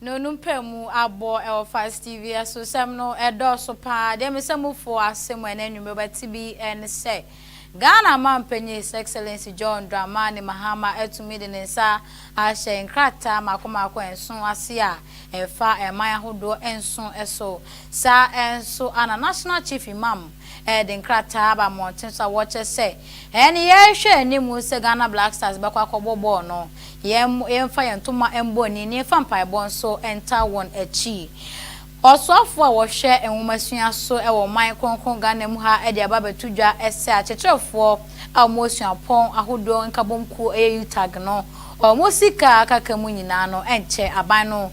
No no mpamu abɔ wɔ Fast TV so sɛm no ɛdɔɔso paa deɛ me sɛ mo foɔ ase mo ɛnɛ anwummerɛ bɛte bi ɛne sɛ Ghana manpanyin His Excellency John Dramani Mahama atumi de ne nsa ahyɛ nkrataa mako mako nson ase a ɛfa ɛman ahodoɔ nson so saa nso a na National Chief Imam de nkrataa aba mmɔnten so a wɔkyerɛ sɛ ɛne yɛrehwɛ anim sɛ Ghana Black Stars bɛkɔ akɔbɔ bɔɔl no, yɛmfa yɛn ntoma mmɔ ani na yɛmfa mpaebɔ nso ntaa wɔn akyi. Ɔsoafo a wɔhwɛ nwomasua so wɔ ɔman kronkron Ghana mu ha de aba abɛto dwa sɛ akyerɛkyerɛfoɔ a wɔwɔ suapɔn ahodoɔ nkabom kuo, ɛyɛ UTAG no, wɔn sika a aka mu nyinaa no nkyɛ aban no.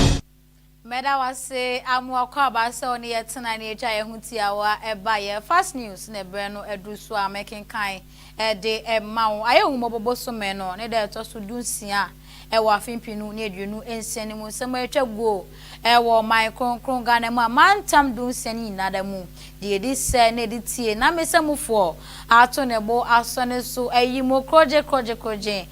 Yesu. Meda wo ase Amoah Kwabah sɛ wo ne yɛ tena na yɛtwa yɛn ho tiawa ɛba yɛ Fast News na ɛberɛ no aduru so a mɛkenkan de ma wo. Ayɛ Ahummɔbɔ bosome no ne da ɛtɔ so du nsia wɔ afe mpenu ne aduonu nsia no mu nsɛm a ɛtwa guo wɔ ɔman kronkron Ghana mu amantam du nsia no nyinaa da mu deɛ ɛdi sɛ na ɛde tie na me sɛ mufoɔ ato ne bo asɔ ne so ayi mu korɔgye korɔgye korɔgye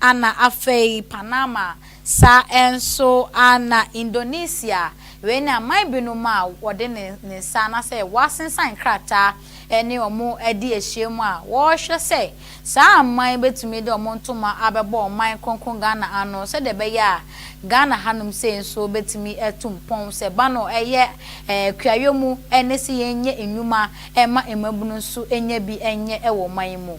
Ana afei Panama saa nso ana Indonesia wei ne aman binom a wɔde ne ne nsa anasɛ wɔasensan krataa ɛne wɔn adi ahyiam a wɔrehwɛ sɛ saa aman yi bɛtumi de wɔn ntoma abɛbɔ ɔman kronkron Ghana ano sɛdeɛ ɛbɛyɛ a Ghana hanom sei nso bɛtumi atu mpɔn sɛ ba no ɛyɛ ɛɛ kuayɔ mu ɛne sɛ yɛnyɛ nnwuma ɛma mmabunu nso ɛnya bi ɛnyɛ ɛwɔ ɔman yi mu.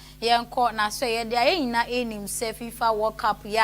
Yɛnkɔ na sɛ yɛde a yɛn nyinaa ɛnim sɛ fifa world cup yɛ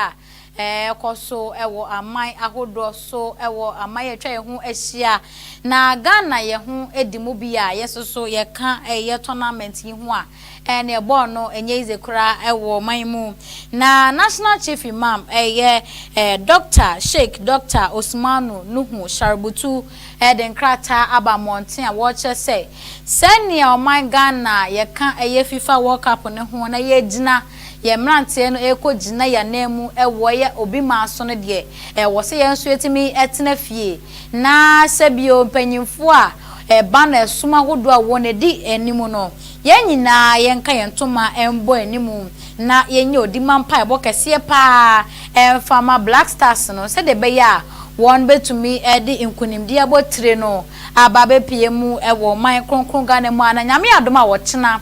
a ɛkɔso wɔ aman ahodoɔ so wɔ aman yɛ atwa yɛ ho ahyia na Ghana yɛ ho di mu bi a yɛ soso yɛ ka yɛ tournament yi ho a ɛneɛ bɔɔl no nyɛ ize koraa wɔ man mu na national chief imam yɛ Doctor Sheik Doctor Osumanu Nuhu Sharubutu de nkrataa aba mmɔnten a wɔrekyerɛ sɛ sɛnea ɔman Ghana a yɛka ɛyɛ fifa world cup no ho na yɛagyina yɛn mmeranteɛ no rekɔ gyina yɛn anan mu wɔ ɛyɛ obi man so no deɛ ɛwɔ sɛ yɛn nso yɛtumi tena fie na sɛ bio mpanyinfoɔ a ɛba no ɛsom ahodoɔ a wɔn adi anim no yɛn nyinaa yɛnka yɛn ntoma mbɔ anim na yɛnyɛ odi ma mpaebɔ kɛseɛ pa ara mfa ma Black Stars no sɛdeɛ ɛbɛyɛ a wɔbɛtumi de nkunimdie abɔ tire no aba abɛpue mu wɔ ɔman kronkron Ghana mu a na Nyame adom a ɔkyena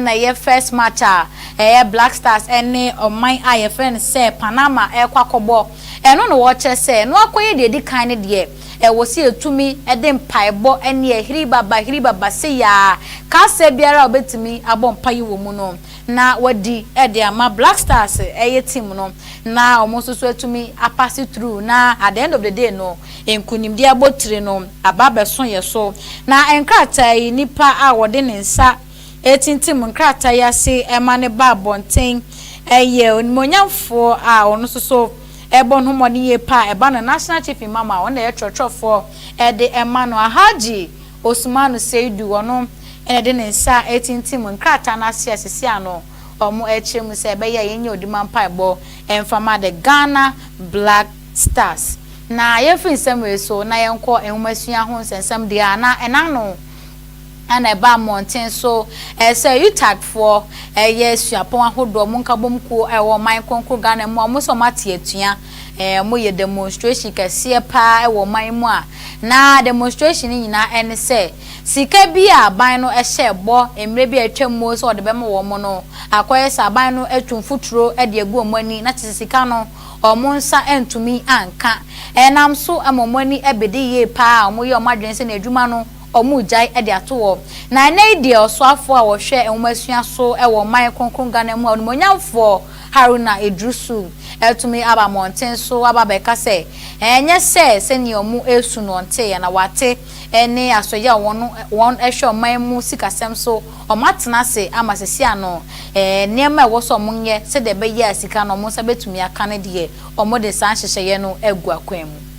na ɛyɛ first match a ɛyɛ Black Stars ne ɔman a yɛfrɛ no sɛ Panama ɛrekɔ akɔbɔ ɛno na wɔkyerɛ sɛ ɛno akɔyɛ deɛ ɛdi kan ne deɛ ɛwɔ sɛ yɛtumi de mpaebɔ ne ahiribaba ahiribaba seiaa kasaa biara a wɔbɛtumi abɔ mpaeɛ wɔ mu no na wɔadi de ama Black Stars yɛ team no na wɔn nso so atumi apase through na at the end of the day no nkunimdie abotire no aba abɛso yɛn so. Na nkrataa yi nipa a ɔde ne nsa retintim nkrataa yi ase ma no ba abɔnten yɛ onimuonyamfoɔ a ɔno nso so bɔ ne ho mmɔden yie paa ɛba no National Chief Imam a ɔno na ɛyɛ twerɛtwerɛfoɔ de ma no Alhaji Osumanu Seidu, ɔno na ɛde ne nsa retintim nkrataa no ase a sisi ano wɔrekyerɛ mu sɛ ɛbɛyɛ a yɛnyɛ odi ma mpaebɔ mfa ma the Ghana Black Stars. Na yɛmfiri nsɛm wei so na yɛnkɔ nwomasua ho nsɛnsɛm deɛ a na ɛna ano a na ɛba mmɔnten so sɛ UTAGfoɔ yɛ suapɔn ahodoɔ wɔn nkabom kuo a ɛwɔ ɔman kronkron Ghana mu a wɔn nso wɔate atua Ɛɛ, wɔyɛ demonstration kɛseɛ pa ara wɔ ɔman yi mu a, na demonstration no nyinaa ne sɛ, sika bi a aban no hyɛɛ bɔ mmerɛ bi a atwam mu sɛ wɔde bɛma wɔn no, akɔyɛ sɛ aban no atu mfuturo de agu wɔn ani, na kyerɛ sɛ sika no, wɔn nsa antumi anka. Ɛnam so ma wɔn ani bede yie pa ara a, wɔyɛ wɔn adwene sɛ na adwuma no, wɔregyae de ato hɔ. Na ɛnnɛ yi deɛ ɔsoafoɔ a ɔhwɛ nwomasua so wɔ ɔman kronkron Ghana mu a onimuonyamfoɔ Haruna Iddrisu atumi aba mmɔnten so aba abɛka sɛ ɛnyɛ sɛ sɛdeɛ wɔresu no ɔnteeɛ na wate ne asoɛyɛ a wɔn wɔhwɛ ɔman mu sikasɛm so wɔn atena ase ama sɛsi ano nneɛma a ɛwɔ sɛ wɔyɛ sɛdeɛ ɛbɛyɛ a sika no wɔn nsa bɛtumi aka no deɛ wɔde saa nhyehyɛeɛ no agu akwan mu.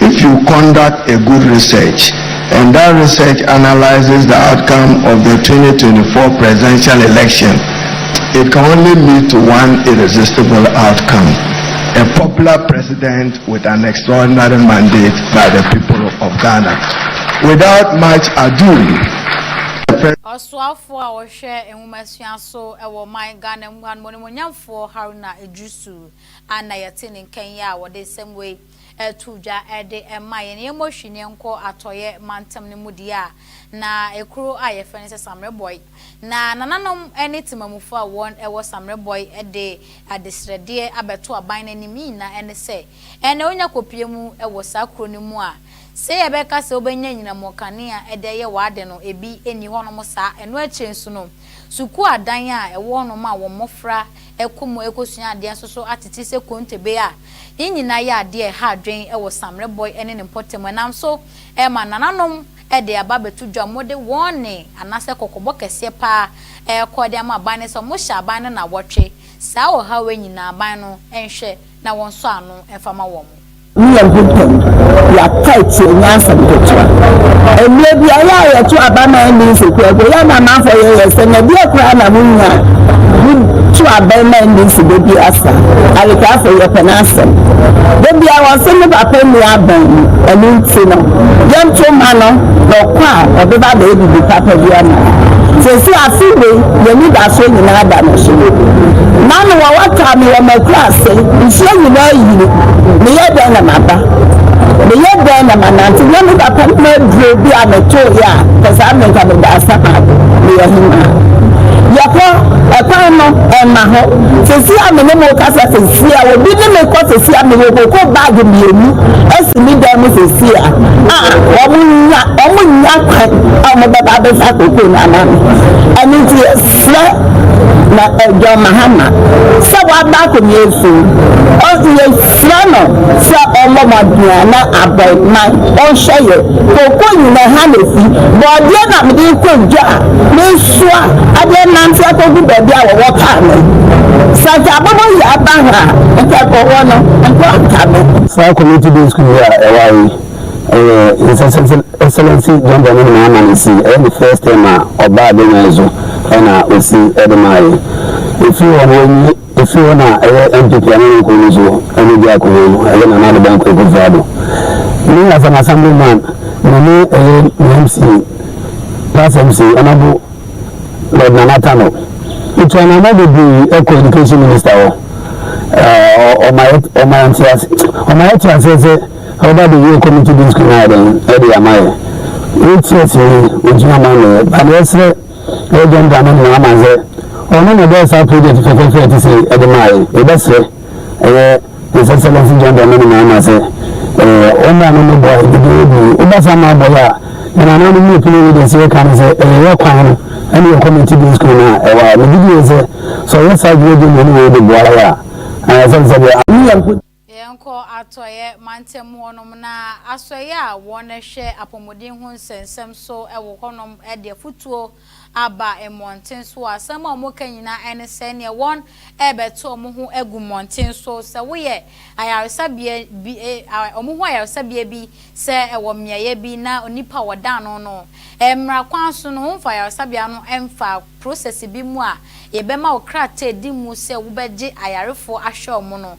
If you conduct a good research and that research analyses the outcome of the twenty twenty four presidential election, it can only lead to one irresistible outcome, a popular president with an extraordinary mandate by the people of Ghana. Without much ado, the Ɔsoafoɔ a ɔhwɛ nwomasua so wɔ ɔman Ghana mu ha no, Onimuonyamfoɔ Haruna Iddrisu a na yɛte ne nka yi a ɔde nsɛm wei ɛto dwa de ma yɛn. Yɛmmɔ hwee na yɛnkɔ Atɔeɛ mantam no mu deɛ a, na kuro a wɔfrɛ no sɛ Samerɛbɔe. Na nananom ne temamufoɔ a wɔwɔ Samerɛbɔe de adesrɛdeɛ abɛto aban no anim. Ne nyinaa ne sɛ, ɛnna wonya kɔpue mu wɔ saa kuro no mu a, sɛ yɛbɛka sɛ wobɛnya anyinam kanea de ayɛ w'ade no, ebi nni hɔnom saa. Ɛno akyire nso no, sukuu adan a ɛwɔ hɔnom a wɔn mmɔfra ɛkɔ mu rekɔsua adeɛ nso so atete sɛ kontebe a ne nyinaa yɛ adeɛ a ɛha adwene wɔ Samre Bɔe ne ne mpɔtam ɛnam so ɛrema nananom de aba abɛto dwa a wɔde wɔn nne anaasɛ kɔkɔbɔ kɛseɛ pa ara rekɔ de ama aban no sɛ wɔhyɛ aban no nnawɔtwe. Saa ɔhaw yi nyinaa aban no nhwɛ na wɔnsɔ ano mfa ma wɔn. Ne Nyankopɔn, Yɛapae tsie nyansa mu ketewa. Mbrɛ biara a yɛto aba ma ndze nseku agu, yɛn amamfo yɛ yɛn sɛ na bia koraa na munnyi a, mutu abɛn ma ndze nseku bi asa. Arekafo, yɛpɛ n'asɛm. Da biara wɔse ne ba pɛ nni abɛn mu. Ɛno ntsi no, yɛnto mma no na ɔkɔ a, ɔbɛba abɛyɛ biribi papa bi ama hɛn. Sesei afe wei, hɛn enyidasɔr nyina ada no so. M'ano wɔ wataa me wɔ m'ekurase, nsuo nyina eyiri. Meyɛ dɛn na maba? Meyɛ dɛn na manante? Nyɛ me papa no aduro bi a metooeɛ a pɛ saa me nka meda asa paado meyɛ hemaa. Yɛkɔ ɛkwan no ɛmma hɔ sɛsi a me ne mo kasa sɛsi a obi ne me kɔ sɛsi a mewɔ koko bag mmienu asi me dan mu sɛsi a a wɔn nya wɔn nya kwan a wɔbɛba abɛfa koko no ama me ɛno nti Srɛ na John Mahama sɛ waba akonnwa so. Yɛsrɛ no sɛ ɔmmɔ mmɔden a na abɔe ma ɔnhwɛ yɛ. Koko nyinaa ha na efi. Borɔdeɛ na mede rekɔ dwa a mesoa de renante akɔgu baabi a wɔwɔ kaa me. Sɛ anka abobo yi aba ha a, nka kɔwɔ no, nkoraa nka me. Saa community day school yi a ɛwɔ ha yi Ɛyɛ nsɛsɛsɛ Excellency Jambɔ no nyinaa ma no si, ɛyɛ ne first term a ɔbaa Benyan so ɛna ɔsi ɛde maa yɛ. Ɛfiri hɔ no wɔnyi ɛfiri hɔ na ɛyɛ NPP a na ne nkuro no so ɛna ɔdi akonnwa no, ɛyɛ Nana Addo Dankwa Akufo Addo. Me as an assembly man, me ne ɛyɛ me MC, past MC, Honorable Lord Nana Tano, ɛtu anamɔ bebree ɛkɔ education minister hɔ. Ɛɛ ɔma yɛ ɔma yɛ ntease ɔma yɛ te aseɛ sɛ Ɔba abegye committee disk no ayɛ dɛn de ama yɛ? Wei ti ase yi ontumi ama me yɛ but yɛsrɛ yɛ John Dramani Mahama sɛ ɔno na ɔbɛyɛ saa project fɛfɛɛfɛ a ɛte sei ɛde maa yɛ. Yɛbɛsrɛ ɛyɛ His Excellency John Dramani Mahama sɛ ɔmmra no mmɛboa yɛ dede yɛ bi. Woba saa ma abɔ yɛ a yɛn anan no mu pini yɛde ɛsɛ yɛka no sɛ ɛyɛ yɛ kwan no ɛne yɛ committee disk no a ɛwɔ ha. Megye die sɛ sɛ ɔyɛ saa adwuma bi mmom na yɛde boa yɛ a ɛsɛ sɛ deɛ Yɛnkɔ Atɔeɛ mantam hɔnom, na asɔeɛ a wɔhwɛ apɔmuden ho nsɛnsɛm so wɔ hɔnom de afotuo aba mmɔnten so. Asɛm a wɔka nyinaa ne sɛ neɛ wɔrebɛto wɔn ho agu mmɔnten so, sɛ woyɛ ayaresabea bi, wɔn ho ayaresabea bi, sɛ ɛwɔ mmeaeɛ bi na onipa a wɔda ano no, mmara kwan so no, wɔmfa ayaresabea no mfa prosɛse bi mu a yɛbɛma wo krataadi mu sɛ wobɛgye ayarefoɔ ahwɛ wɔn no.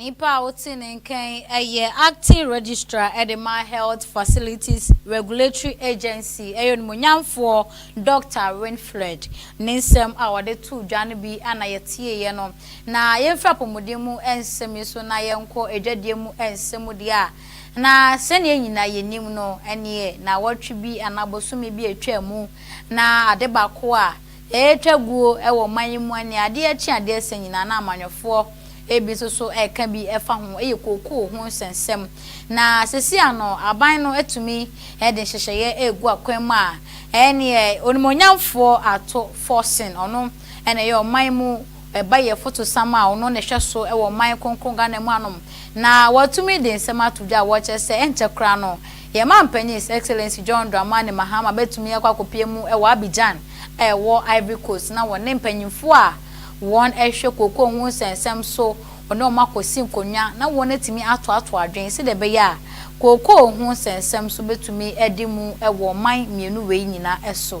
Nipa a ɔte ne nkan yɛ Acting Registrar de ma Health Facilities Regulatory Agency yɛ Onimuonyamfoɔ Dɔkta Winfred. Ne nsɛm a ɔde too dwa no bi na yɛtieeɛ no. Na yɛmfiri apɔmuden mu nsɛm yi so na yɛnkɔ adwadie mu nsɛm deɛ a, na sɛdeɛ yɛn nyinaa yɛnim no, ɛneɛ na awɔtwe bi anaa bosome bi atwa mu na ade baako a, Ɛretwa guo wɔ ɔman yi mu ɛnnɛ. Adeɛ kye adeɛ sa nyinaa na amanyɔfoɔ bi nso so reka bi fa ho. Ɛyɛ kookoo ho nsɛnsɛm. Na seesei ano aban no atumi de nhyehyɛeɛ regu akwan mu a ɛneɛ Onimuonyamfoɔ Ato Forson, ɔno na ɛyɛ ɔman mu Ɛba yɛ fotosam a ɔno na ɛhwɛ so wɔ ɔman kronkron Ghana mu anom na watumi de nsɛm ato dwa a wɔkyerɛ sɛ ɛnkyɛ koraa no yɛn mampanyin His Excellency John Dramani Mahama bɛtumi akɔ akɔpue mu wɔ Abidjan a ɛwɔ Ivory Coast na wɔne mpanyimfoɔ a wɔn ɛhwɛ kookoo ho nsɛnsɛm so wɔne wɔn akɔsi nkonnwa na wɔn atumi atoato adwene sɛdeɛ ɛbɛyɛ a kookoo ho nsɛnsɛm so bɛtumi adi mu wɔ ɔman mmienu wei nyina so.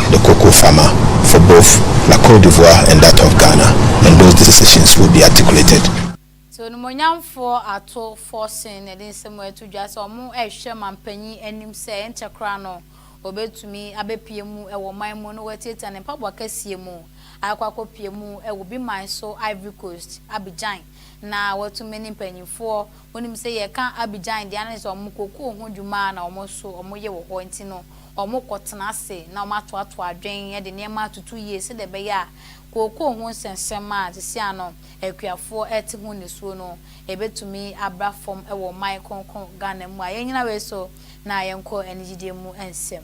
the cocoa farmer for both la Cote d'Ivoire and that of Ghana and those decisions will be articulated. Sɛ onimuonyamfoɔ ato forcing na ɛde nsɛm wei ato dwa sɛ wɔrehwɛ manpanyin anim sɛ ɛnkyɛ koraa no ɔbɛtumi abɛpue mu wɔ ɔman mu na watiatia ne mpaboa kɛseɛ mu akɔ akɔpue mu wɔ Obi man so Ivory Coast, Abidjan, na watumi ne mpanyinfoɔ. Wonim sɛ yɛka Abidjan deɛ a na kyerɛ sɛ wɔn kokoo ho dwuma ara na wɔn nso wɔyɛ wɔ hɔ nti no wɔkɔ tena ase na wɔn ato ato adwen de nneɛma atutu yie sɛdeɛ ɛbɛyɛ a kokoo ho nsɛnsɛm a seesei a no akuafoɔ rete ho nisuo no ɛbɛtumi abra fam wɔ ɔman kronkron Ghana mu a yɛnnyina wei so na yɛnkɔ anigyidie mu nsɛm.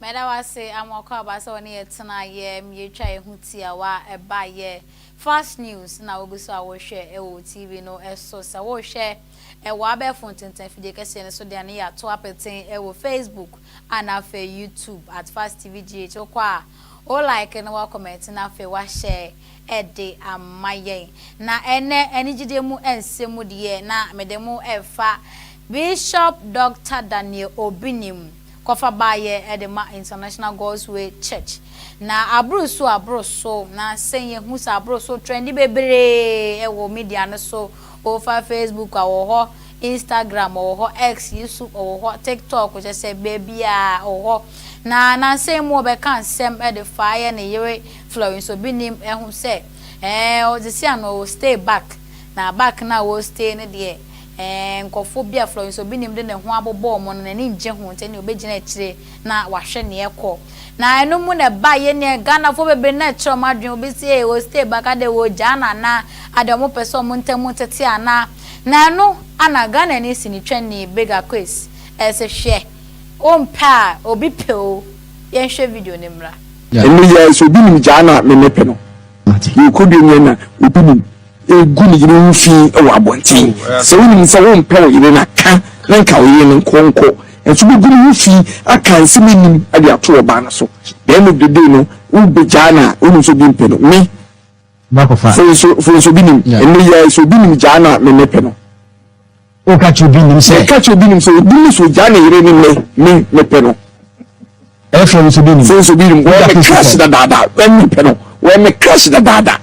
Meda wo ase Amoako Aba sɛ wo ne yɛ tena yɛ m yɛ twa yɛ ho tiawa ɛba yɛ flash news na wo gu so a wo hwɛ ɛwɔ TV no so sɛ wo hwɛ ɛwɔ abɛɛfo ntentan fidie kɛseɛ no so deɛ ne yɛ ato apeten ɛwɔ Facebook a na afei YouTube at fast TV GH wo kɔ a wo like na wo comment na afei wo ahyɛ de ama yɛn. Na ɛnnɛ anigyede mu nsɛm deɛ na mede mo refa Bishop Dɔkta Daniel Obinim kɔfa baeɛ de ma International God's Way Church. Na aboro so aboro so, na sɛ yɛhu sɛ aboro so trɛndi bebree wɔ media no so. O fa Facebook a ɔwɔ hɔ, Instagram ɔwɔ hɔ, X yi so ɔwɔ hɔ, TikTok kyerɛ sɛ baabiara ɔwɔ hɔ. Na nansa yi mu ɔbɛka nsɛm de faa yɛ ne yere Florence Obinim ho sɛ ɛɛ ɔdze sia no ɔwɔ stay back na back no a ɔwɔ stay no deɛ ɛɛ nkurɔfoɔ bi a Florence Obinim de ne ho abobɔ wɔn no n'ani ngye ho nti ɛne ɔbɛgyina akyire na wahwɛ nea ɛkɔ. Na ɛno mu na ɛba yɛ nea Ghanafoɔ bebree na ɛkyerɛ wɔn adwene. Obi se ee wɔ'stay back adɛn wɔ'regyaa no anaa? Adɛn wɔn pɛ sɛ wɔn ntam ntete anaa? Na ɛno ana Ghanani sinitwani Bega Quays ɛse hwɛ wompɛ a obi pɛ oo. Yɛnhwɛ video no mmra. Ɛno yɛɛ sɛ obi nim gyaa no a me mɛpɛ no. Yɛrekɔ dua mu yɛn na obi nim. regu ne yere ho fi wɔ abɔnten. Sɛ wonim sɛ wompɛ wo yere no a, ka na nka wo yere no nkɔ nkɔ. Nanso wobɛgu ne ho fi aka nsɛm a ɛnnim de ato ɔbaa no so. The end of the day no, wobɛgyaa no a, wonim sɛ obi mpɛ no. Me, fo nso, fo nso obi nim. Ɛnnɛ yi ara, sɛ obi nim gyaa no a, memmɛpɛ no. Woka kyerɛ obi nim sɛ. Woka kyerɛ obi nim sɛ obi ne so gyaa ne yere ne nnɛ me mepɛ no. Ɛfrɛ wo sɛ obi nim. Fo sɛ obi nim. Wɔyɛ me crush dadaada. Wɔn mepɛ no. Wɔyɛ me crush dadaada.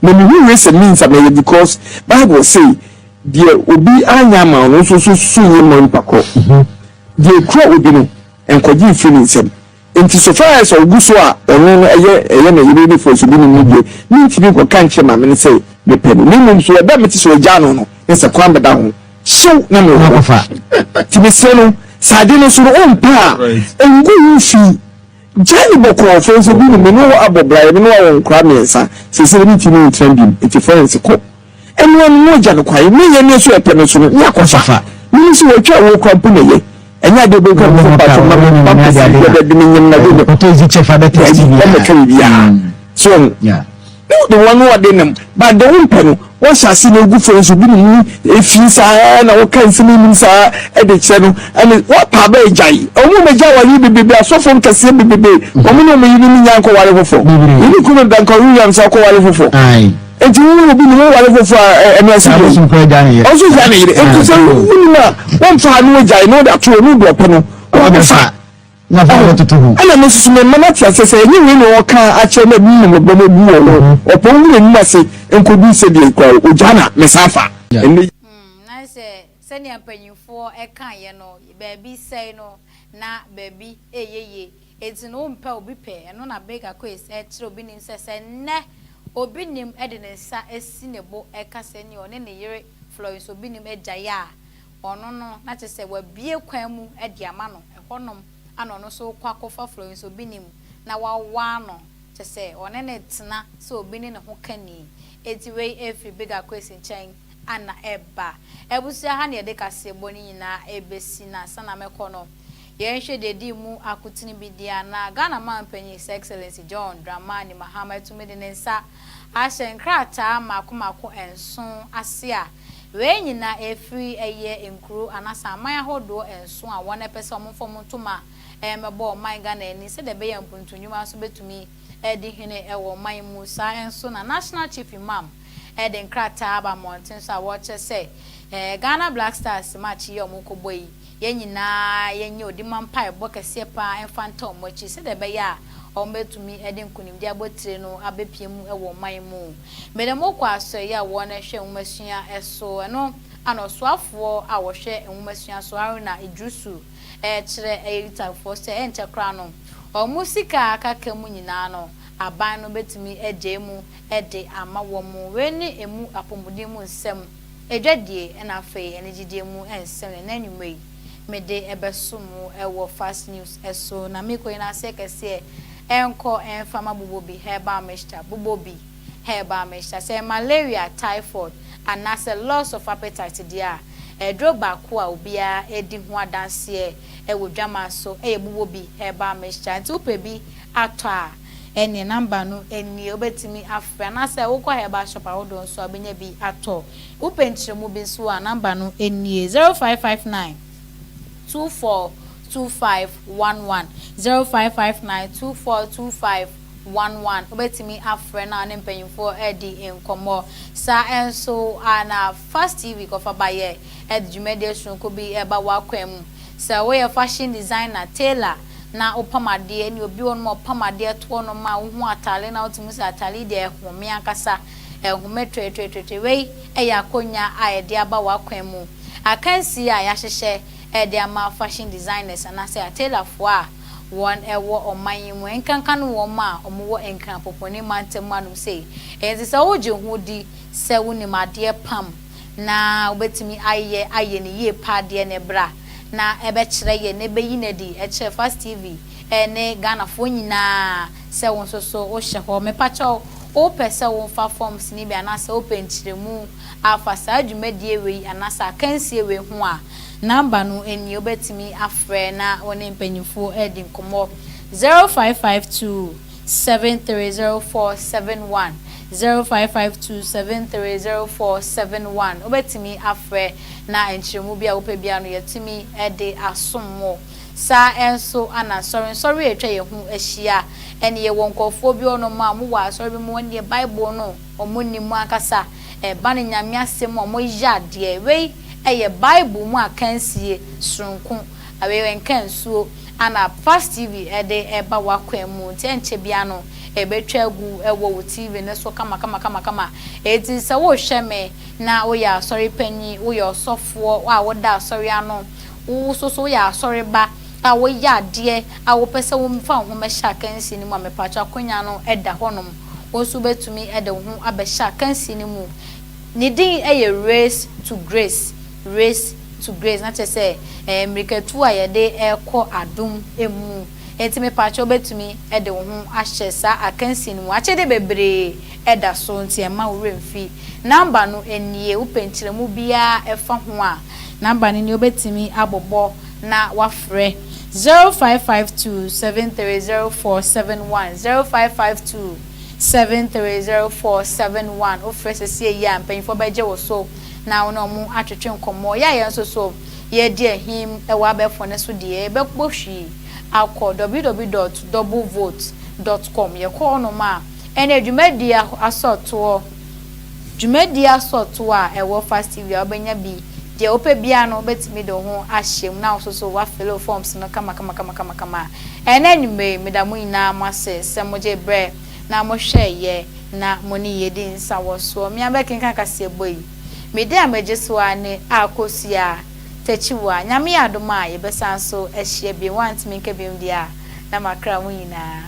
Na me hu wei sɛ me nsa mɛyɛ because Bible say deɛ obi anya ama no nso so so yɛ mɔ mpakɔ. Deɛ ekura obi no nkɔgye mfiri ne nsam. Enti so far as ɔgu so a ɔno no ɛyɛ ɛyɛ ne yere ne fɔso bi nim no deɛ me ntumi nkɔka nkyerɛ maame no sɛ me pɛ no na mmom so ɛda mete sɛ ɔgyaa no no ɛsɛ kwan bɛda ho hyew na me wɔ hɔ nti mesrɛ no sɛ ade no so no ɔmpɛ a ɛngu ho fi gyae ne bɔkɔɔ fɔso bi nim me ne wo abɔ bra yɛ me ne wo awɔ nkora mmiɛnsa sɛsɛ me ntumi ntena bi enti fɔrense kɔ Ɛno ano no agya no kwan, ne yɛ ne so ɛpɛ no so no ne akɔ fa. Mene sɛ wɔatwa wo kora mpo na yɛ. Ɛnyɛ adeɛ bɛyi kwan mpo pa so ma me mpa mpɛsi bia bɛde me nyem na de ne. Ɔtɔ izi kyɛ fa bɛ tɛ si bia. Ɛmɛka yɛ biara. So, na wode wɔn wɔde nam, ba de wo mpɛ no, wɔhyɛ ase na egu fo nso bi ne mu efi saa na wɔka nsɛm enim saa ɛde kyerɛ no ɛne wɔpa abɛ agyae. Wɔn mu agya wɔn yi bebrebe asɔfo nkɛseɛ bebrebe wɔn ne wɔn yi ne ne nyankɔ ware fofo. Yɛne kunu dankan Williams akɔ ware fofo. Enti wo ne obi ne wo ware foforɔ a ɛ- ɛno ɛsɛ Na dɛn? bosom kora gya ne yere. ɔnso gya ne yere enti sɛ Ah, wonim a wɔmfa a na wagyae na wode ato hɔ ne wode ɔpɛ no Ɔbɛ wɔde fa fa. Na fa ɔbɛ toto ho. ɛna me nso so mema no ate aseɛ sɛ ɛnyɛ wei na ɔka akyerɛ no abu mmɔbɔ no abu wɔ no ɔpɔn hu n'anim ase nkɔdu sɛ deɛ kora ogya na mesan fa Yeah. ɛnɛ Hmm, na sɛ Sɛnea mpanyimfoɔ kaeɛ no, baabi sɛe no, na baabi reyɛ yie. Enti no, wompɛ obi pɛ. Ɛno na Baker Quays kyerɛ obi nim sɛ, sɛ nnɛ obi nim de ne nsa si ne bo ka sɛ nea ɔne ne yere Florence obi nim agyae a, ɔno no, na kyerɛ sɛ wabue kwan mu de ama no. Ɛhɔnom na ɔno nso kɔ akɔfa Florence obi nim na wawaa no, kyerɛ sɛ ɔne no retena sɛ obi ne ne ho kani. Enti wei firi Baker Quays nkyɛn. Ana ɛba abusua ha na yɛde kaseɛbɔ no nyinaa ɛbɛsi no ansa na mɛkɔ no? Yɛnhwɛ deɛ ɛdi mu akotene bi deɛ anaa? Ghana Manpanin His Excellency John Dramani Mahama atumi de ne nsa ahyɛ nkrataa mmaako mmaako nson ase a wei nyinaa ɛfiri ɛyɛ nkuro anaasɛ aman ahodoɔ nson a wɔn ɛpɛ sɛ wɔn mfa wɔn ntoma mmɛbɔ ɔman Ghana ani sɛdeɛ ɛbɛyɛ a mpuntunnwuma nso bɛtumi adi hene wɔ ɔman mu. Saa nso na National Chief Imam. de nkrataa aba mmɔnten so a wɔrekyerɛ sɛ ɛɛ Ghana Black Stars match yi a wɔrekɔbɔ yi, yɛn nyinaa yɛnyɛ odi ma mpaebɔ kɛseɛ pa ara mfa nta wɔn akyi sɛdeɛ ɛbɛyɛ a wɔbɛtumi de nkonimdie abotire no abɛpue mu wɔ ɔman mu. Mede mo kɔ asoɛeɛ a wɔhwɛ nwomasua so no ano ɔsoafoɔ a ɔhwɛ nwomasua so Haruna Iddrisu rekyerɛ ɛyɛ Utahfoɔ sɛ ɛnkyɛ koraa no wɔn sika a aka ka mu nyinaa no aban no bɛtumi agyae mu de ama wɔn wei ne emu apɔmuden mu nsɛm, adwadie ɛna afei anigyedeɛ mu nsɛm na ɛnɛ anwummerɛ yi mede ɛbɛso mo ɛwɔ Fast News ɛso na me kɔ nyinaa aseɛ kɛseɛ ɛnkɔ ɛmfa ma Bobobi Herbal Mixture Bobobi Herbal Mixture sɛ malaria, typhoid anaasɛ loss of appetite deɛ a aduro baako a obiara di ho adanseɛ ɛwɔ dwaman so ɛyɛ Bobobi Herbal Mixture nti wopɛ bi atɔ a. ɛneɛ number no nie wobɛtumi afrɛ anaasɛ wokɔ herbal shop ahodoɔ nso a wobɛnya bi atɔ. Wopɛ nkyerɛmu bi nso a number no nie, 0559242511, 0559242511, wobɛtumi afrɛ na wo ne mpanyimfoɔ adi nkɔmmɔ. Saa nso a na Fast TV kɔfa ba yɛ ɛde dwumadie sononko bi ba w'akwan mu. Sɛ woyɛ fashion designer, tailor, na wopam adeɛ ne obi wɔ hɔnom a ɔpam adeɛ toɔ no ma wo hu ataare na wote mu sɛ ataare yi deɛ ɛhome ankasa ɛhome tweretweretwere wei ɛyɛ akonwa a yɛde aba w'akwan mu akansie a yɛahyehyɛ ɛde ama fashion designers anaasɛ atailorfoɔ a wɔn ɛwɔ ɔman yi mu ɛnkanka no wɔn a wɔn wɔ Nkrapopɔne mantam anom sei ɛnti sɛ wogye ho di sɛ wonim adeɛ pam na wobɛtumi ayɛ ayɛ no yie paa deɛ ne berɛ a na ɛbɛkyerɛ yɛn na ɛbɛyi no adi kyerɛ Fast TV ne Ghanafoɔ nyinaa sɛ wo nso so wohyɛ hɔ. Mepakyɛ wo, wopɛ sɛ womfa forms no bi anaasɛ wopɛ nkyerɛmu afa saa dwumadie wei anaasɛ akansie wei ho a, number no nie, wobɛtumi afrɛ na wo ne mpanyinfoɔ adi nkɔmmɔ, 0552. seven three zero four seven one zero five five two seven three zero four seven one Wobɛtumi afrɛ na nkyerɛmu bi a wopɛ biara no yɛatumi de asom wo. Saa nso na nsɔre nsɔre a atwa yɛn ho ahyia ɛne yɛwɔ nkorɔfoɔ bi hɔnom a wɔwɔ asɔre bi mu wɔn deɛ Bible no wɔn nni mu ankasa ɛba no Nyame asɛm mu a wɔyɛ adeɛ. Wei yɛ Bible mu akansie sononko. Awewe nka nsuo a na Fast TV de reba w'akwan mu nti ɛnkyɛ biara no ɛbɛtwa agu wɔ wo TV no so kamakama. Enti sɛ worehwɛ me na woyɛ asɔre panyin, woyɛ ɔsɔfoɔ a woda asɔre ano, wo nso so woyɛ asɔreba a woyɛ adeɛ a wopɛ sɛ wofa wo ho bɛhyɛ akansie no mu a, mepakyɛw akonnwa no da hɔnom. Wo nso wobɛtumi de wo ho abɛhyɛ akansie no mu. Ne din yɛ Race to Grace. Race to grace na kyerɛ sɛ ɛyɛ mmirikatu a yɛde rekɔ adom mu. Enti mepaakyɛw wobɛtumi de wo ho ahyɛ saa akansie no mu. Akyɛdeɛ bebree da so nti mma wo werɛ mfi. Number no nie, wopɛ nkyerɛmu biara ɛfa ho a, number no nie, wobɛtumi abobɔ na wafrɛ, 0552 730471, 0552 730471. Wofrɛ sesie yi a, mpanyinfoɔ bɛgye wo so. na wo ne ɔmo atwetwe nkɔmmɔ. Yɛ a yɛn nso so yɛredi ahim wɔ abɛɛfo no so deɛ, yɛbɛbɔ hwii akɔ ww dot double vote dot com. Yɛkɔ hɔnom a, ɛneɛ dwumadie asɔɔtoɔ, dwumadie asɔɔtoɔ a ɛwɔ Fastiwia, wobɛnya bi. Deɛ wopɛ biara no, wobɛtumi de wo ho ahyem na wo nso so woafele wo forms no kama kama kama kama kama. Ɛnnɛ anwummerɛ yi, meda mo nyinaa mo ase sɛ mogye berɛ. na mo hwɛ yɛ na mo ne yɛ di nsa wɔ soɔ me a mɛ kenkan kaseɛ bɔ yi me de a mɛ gye so aa ne a kɔ sua a takyi wa nyame yɛ adom a yɛ bɛ san so ahyia biom wa ntimi nka biom deɛ a na ma kra ho nyinaa.